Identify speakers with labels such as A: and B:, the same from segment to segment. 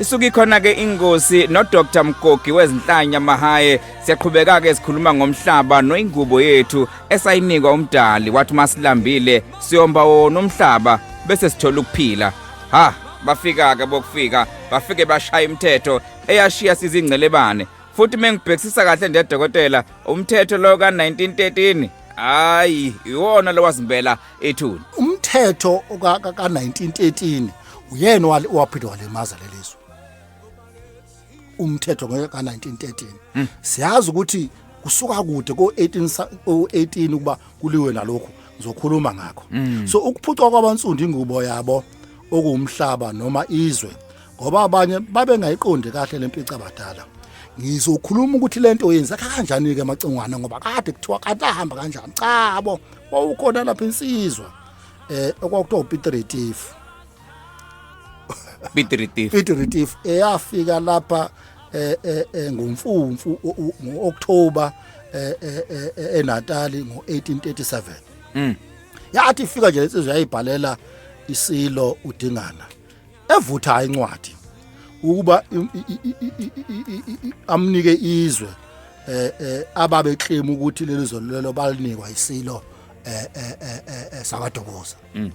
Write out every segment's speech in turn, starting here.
A: isuke ikhona ke ingosi no Dr Mgogi wezinhlanya Mahaye siyaqhubeka ke sikhuluma ngomhlaba noingubo yethu esayinikwa umdali wathi masilambile siyomba wona umhlaba bese sithola ukuphila ha bafika ke bokufika bafike bashaya imithetho eyashiya sizingcelebane futhi mengibhekisisa kahle ndedokotela umthetho lo ka 1913 hayi iwona lowazimbela ethuni umthetho
B: ka 1913 uyena waphinde walimaza lelizwe umthetho ka 1913 hmm. siyazi ukuthi kusuka kude ko 18 ko 18 ukuba kuliwe nalokho ngizokhuluma ngakho hmm. so ukuphucwa kwabansundu ingubo yabo okuwumhlaba noma izwe ngoba abanye babengayiqondi kahle lempica abadala ngizokhuluma ukuthi lento yenza kanjani ke macingwana ngoba kade kuthiwa kade ahamba kanjani cha bo wawukhona lapha insizwa eh okwakuthiwa uPeter Retifu Peter Retifu Peter Retifu eyafika lapha eh, eh, eh ngomfumfu ngoOctober eh, eh eNatali ngo1837 mm yathi ifika nje insizwa yayibhalela isilo udingana evutha incwadi ukuba amnike izwe eh, eh ababe claim ukuthi leli zolulelo balinikwa isilo eh, eh, eh sakadokoza mm.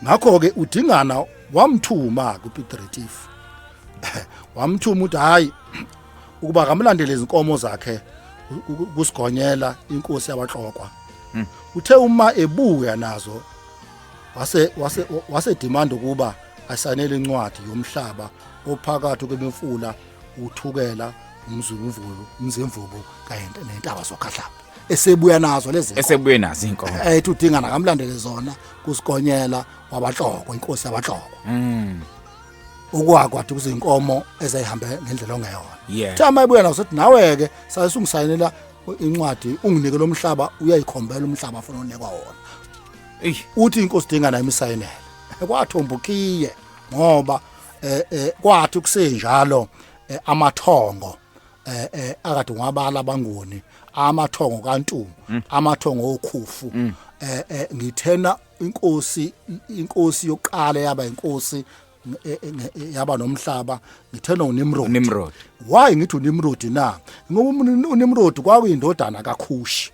B: ngakho ke udingana wamthuma ku Piet Retief wamthuma uthi hayi ukuba kamlandele izinkomo zakhe kusigonyela inkosi yabahlokwa mm. uthe uma ebuya nazo wase wase wase demand ukuba asanele incwadi yomhlaba ophakathi kwemfula uthukela umzulumvulu umzimvubu kanye nentaba sokhahlaba esebuya nazo lezi esebuye nazo inkomo
A: ethi udinga
B: nakamlandele zona kusikonyela wabahloko inkosi yabahloko mm ukwakwathi kuzinkomo ezayihambe ngendlela ongeyona yeah. thama ibuya nazo ukuthi nawe ke sayisungisayinela incwadi unginike lomhlaba uyayikhombela umhlaba afuna unikwa wona Ey. uthi inkosi dinga nayo imisayinele kwathomba ukhiye ngoba eh, eh, kwathi ukusenjalo eh, amathongo eh, eh, akade ngwabala abangoni amathongo kantungu amathongo okhufu eh, eh, ngithena inkosi inkosi yokuqala yaba inkosi nge- eh, eh, nge- eh, yaba nomhlaba ngithena uNimrod Nimrod. why ngithi uNimrod na ngoba uMni- uNimrod kwakuyindodana kaKhushi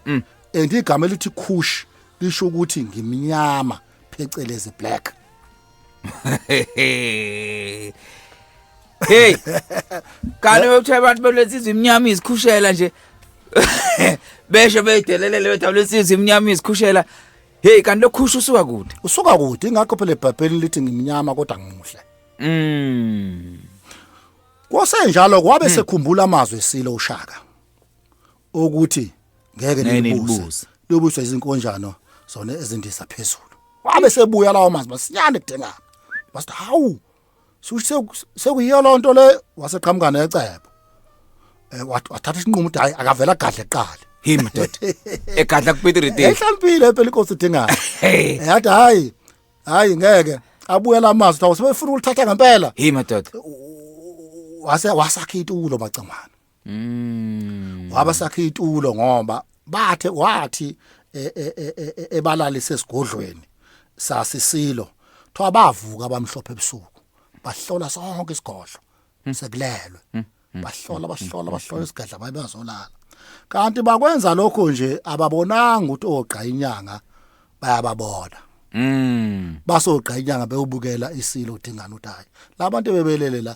B: Mm. And igama elithi Kush lisho ukuthi ngimnyama phecelezi black.
A: Hey. Kani wethu abantu belesizwe imnyama izikhushela nje. Besho beyidelelele wethu lesizwe imnyama izikhushela. Hey kanti lokhusha usuka kude. Usuka kude ingakho phela eBhayibhelini lithi
B: ngimnyama kodwa ngimuhle. Mm. Kwasenjalo kwabe hmm. sekhumbula amazwi esilo uShaka. okuthi ngeke Ngeke nilibuse nilibuse. lobuswa izinkonjano zona ezindiza phezulu wabe sebuya lawo mazwi masinyane kudengana wasithi hawu shuthi seku- sekuyiyo loo nto le waseqhamuka necebo Eh, wat- wathatha isinqumo ukuthi hayi akavele agadle kuqala Him dot.
A: Egadla kuPitiri date. ehlalimpile phela inkosi
B: idingana Hey. yathi hayi hayi ngeke abuye la mazwi thawu sebefuna ukulithatha ngempela Him dot.
A: wase wasakha
B: itulo macamana Mm. Waba sakhe itulo ngoba bathe wathi e- e- e- e- e- ebalalise esigodlweni sasisilo. Thoba bavuka abamhlophe ebusuku. Bahlola sonke isigodlo. Sekulelwe. Bahlola bahlola bahlola isigadla baye bazolala. Kanti bakwenza lokho nje ababonanga ukuthi ogqa inyanga bayababona. Mm. basogqa inyanga bewubukela isilo udingana uthi hayi labantu bebelele la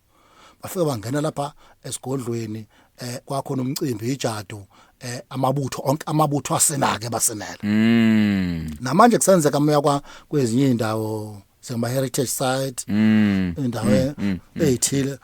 B: bafike bangena lapha esigodlweni eh kwakho nomcimbi ijadu eh amabutho onke amabutho asenake basenela mm namanje kusenzeka moya kwa kwezinye indawo sema heritage site mm indawo mm, mm, mm. ezithile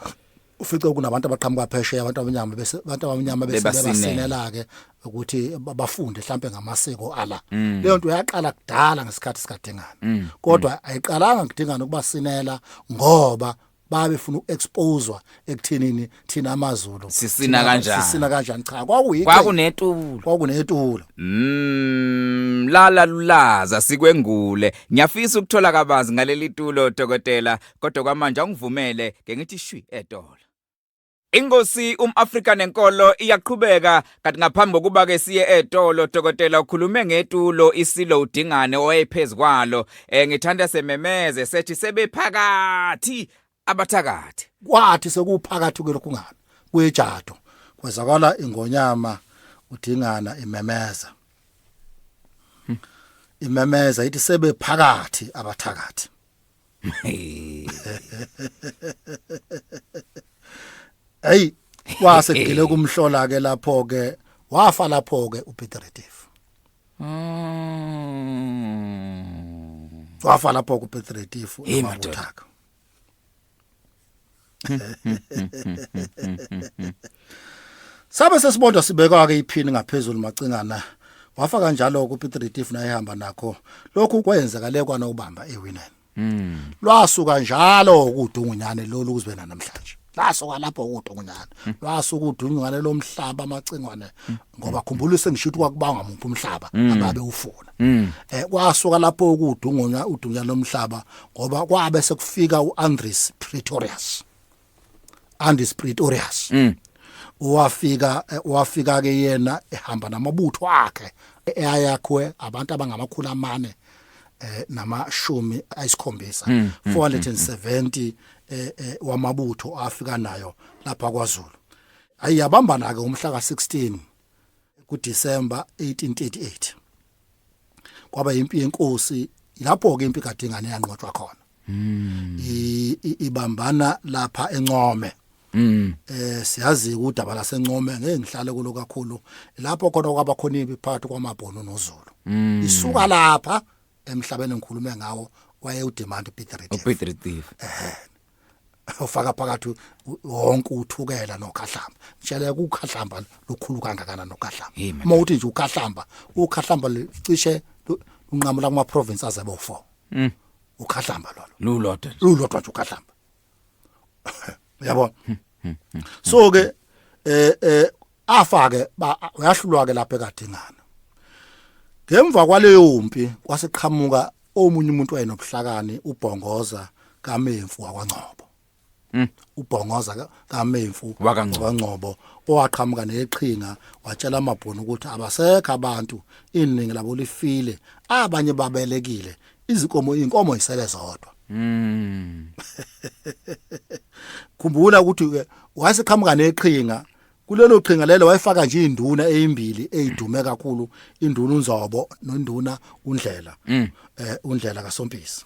B: ufice kunabantu abaqhamuka phesheya abantu abanyama bese abantu abanyama bese basinela ke ukuthi bafunde mhlambe ngamasiko ala mm. leyo nto yaqala kudala ngesikhathi sikadingana mm. kodwa mm. ayiqalanga kudingana ukubasinela ngoba babefuna ukuexposewa ekuthenini thina amaZulu sisina kanjani
A: sisina kanjani cha
B: kwakuyi kwakunetulo kwakunetulo mm
A: lala lulaza sikwengule ngiyafisa ukuthola kabanzi ngaleli tulo dokotela kodwa kwamanje angivumele ke ngithi shwi edola Inkosi umAfrika nenkolo iyaqhubeka kanti ngaphambi kokuba ke siye etolo dokotela ukhulume ngetulo isilo udingane owayephezkwalo eh ngithanda sememeze sethi sebephakathi abathakathi kwathi
B: sekuphakathi kulokhu ngalo kuyijato kwezakala ingonyama udingana imemeza imemeza ithi sebephakathi abathakathi hey wase gile kumhlola ke lapho ke wafa lapho ke uPeter Retief mm wafa lapho ku Peter Retief uMabuthaka Sabe sesibodwa sibekwa ke iphini ngaphezulu macingana wafa kanjalo ku Piet Retief naye hamba nakho lokhu kwenzeka le kwana ubamba ewineni mm. lwasuka njalo ukudungunyane lolu kuzibe namhlanje lasuka lapho ukudungunyane lwasuka udunywane lomhlaba amacingwane ngoba khumbula sengisho ukuthi kwakubanga umuntu umhlaba mm. ababe ufuna mm. eh kwasuka lapho ukudungunya udunya lomhlaba ngoba kwabe sekufika uAndres Pretorius Andres Pretorius mm. wafika eh, wafika ke yena ehamba namabutho akhe eyayakhwe abantu abangamakhulu amane eh namashumi ayisikhombisa 470 eh, eh wamabutho afika nayo lapha kwaZulu Hayi yabambana ke umhla ka-16 kuDisemba 1838. Kwaba impi yenkosi lapho ke impi kaDingane yanqotshwa khona. Mm. I, i, ibambana lapha eNcome. Mm. Eh siyazi udaba laseNcome ngeke ngihlale kulo kakhulu lapho khona kwaba khona impi phakathi kwamaBhunu noZulu. Mm. Isuka lapha emhlabeni engikhulume ngawo waye udemand Peter Retief. Peter Retief. Eh ufaka phakathi wonke uthukela nokhahlamba ngitshela ukukhahlamba lukhulu kangakanani nokhahlamba uma uthi nje ukhahlamba ukhahlamba licishe unqamula kuma province aze bo 4 mm. ukhahlamba lolo lulodwa lulodwa nje ukhahlamba yabo hmm, hmm, hmm, so ke eh eh afake uyahlulwa-ke lapho ekadingana ngemva kwaleyo mpi kwaseqhamuka omunye umuntu wayenobuhlakani ubhongoza kamemfu wakwangcobo hmm. ubhongoza kamemfu wakangcobo owaqhamuka neqhinga watshela amabhunu ukuthi abasekho abantu iningi labo lifile abanye babelekile izinkomo inkomo isele zodwa hmm. khumbula ukuthi wayeseqhamuka neqhinga kulelo qhinga lelo wayefaka nje induna ezimbili ezidume kakhulu induna uNzobo nonduna uNdlela mm. eh uNdlela kaSompisi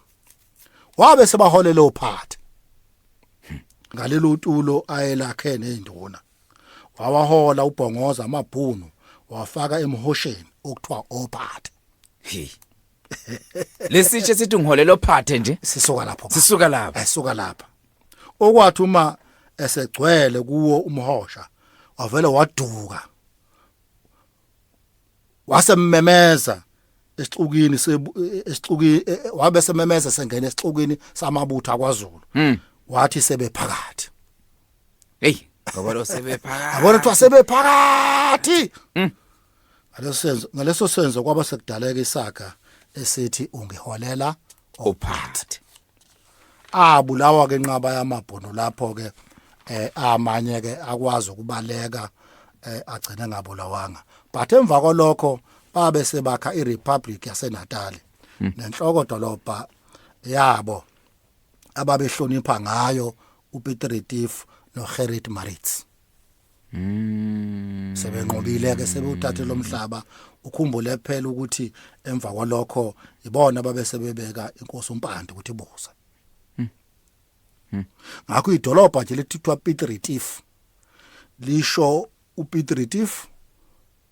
B: wabe sebaholela ophathi ngalelo tulo ayelakhe nezinduna wawahola ubhongoza amabhunu wafaka emhosheni okuthiwa ophathi
A: lesitshe sithi ngiholela ophathe nje sisuka lapho sisuka lapha
B: sisuka lapha okwathi uma esegcwele kuwo umhosha wavele waduka wasememeza esixukini esixuki e, e, wabe sememeza sengena esixukini samabutha kwaZulu hmm. wathi sebephakathi hey
A: ngoba lo sebephakathi abona ukuthi
B: sebephakathi hmm. ngaleso senzo ngaleso senzo kwaba sekudaleka isaga esithi ungiholela ophathi abulawa ke nqaba yamabhono lapho ke eh amanye ke akwazi ukubaleka eh agcine ngabulawanga but emva kolokho babe sebakha iRepublic yaseNatal hmm. nenhloko dolobha yabo ababehlonipha ngayo uPeter Retief noGerrit Maritz Mm. Sebenqobile ke sebewuthathe lomhlaba ukhumbule kuphela ukuthi emva kwalokho ibona babe sebebeka inkosi umpande ukuthi buza. Mm. Mm. Ngakho idolobha nje lethithwa Piet Retief lisho uPiet Retief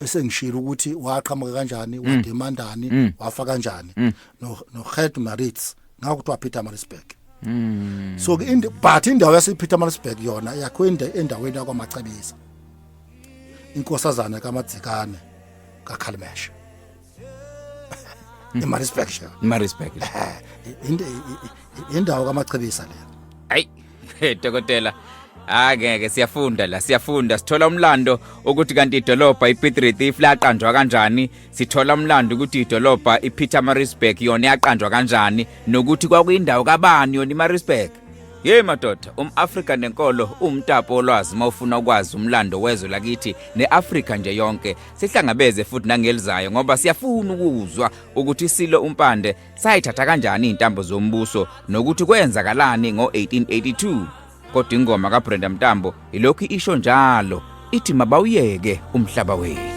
B: bese ngishilo ukuthi waqhamuka kanjani mm. wademandani mm. wafa kanjani mm. no no Gert Maritz ngakuthiwa Peter Maritzburg Mm. So in but indawo yasePeter Maritzburg yona yakho endaweni yakwamacebisa. Inkosazana kaMadzikane kaKhalimesha. Nima respect sha. Nima
A: respect.
B: Indawo kamachebisa le. Hayi,
A: dokotela. Angeke siyafunda la siyafunda sithola umlando ukuthi kanti idolobha iPiet Retief laqanjwa kanjani sithola umlando ukuthi idolobha iPeter Maritzburg yona yaqanjwa kanjani nokuthi kwakuyindawo kabani yona iMaritzburg Hey madoda, umAfrika nenkolo umtapo olwazi mawufuna ukwazi umlando wezwe lakithi neAfrika nje yonke. sihlangabeze futhi nangelizayo ngoba siyafuna ukuzwa ukuthi isilo umpande sayithatha kanjani intambo zombuso nokuthi kwenzakalani ngo-1882 kodwa ingoma kabrenda mtambo ilokhu isho njalo ithi mabawuyeke umhlaba wethu